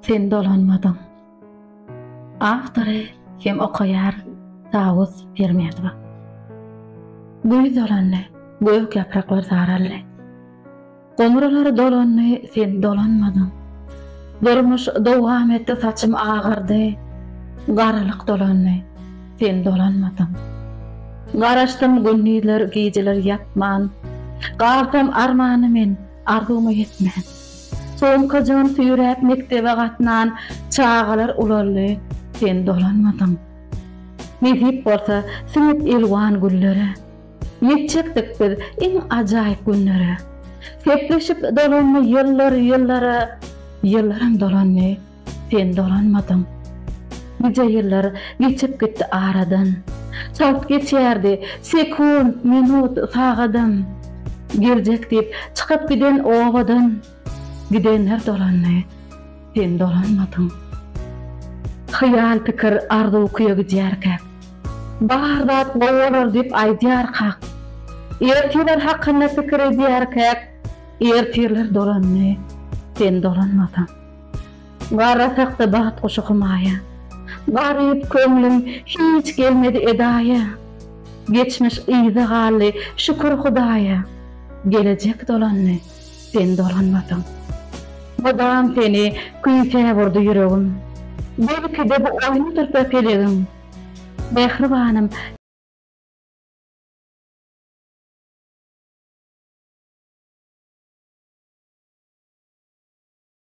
Sen dolanmadyň. Awtory hem okaýar Dawut Pirmedowa. Güýz dolandy, gök ýapraklar saraldy. Goňurlar dolandy, sen dolanmadyň. Durmuş dowam etdi, saçym agyrdy. Garalyk dolandy, sen dolanmadyň. Garaşdym gündizler, gijeler ýatman. Galsam armana men, Arzuwyma ýetmän. Sumkajygyn süýräp mekdebe gatnan çagalar ulaldy, sen dolanmadyň. Nesip bolsa, siňip elwan güllere. Ýetjekdik biz iň ajaýyp günlere. Sepleşip dolandy ýyllar ýyllara, ýyllaram dolandy. Sen dolanmadyň. Nice ýyllar geçip gitdi aradan. Çalt geçýärdi sekunt, minut, sagadam. Geljek diýip çykyp giden obadan. Gidenler dolandy, sen dolanmadyň. Hyýal pikir arzuw küýe gidýärkäk. Bar zat gowy bolar diýip aýdýarkak. Ertirler hakynda pikir edýärkäk. Ertirler dolandy, sen dolanmadyň. Garra sakda bagt guşy hymaýa. Garyp köňlüm hiç gelmedi edaýa. Geçmiş yza galdy, şükür Hudaýa. Gelejek dolandy, sen dolanmadyň. Mydam seni küýsäp urdy ýüregim. Belki-de bu oýnudyrda pelegiň. Mähribanym!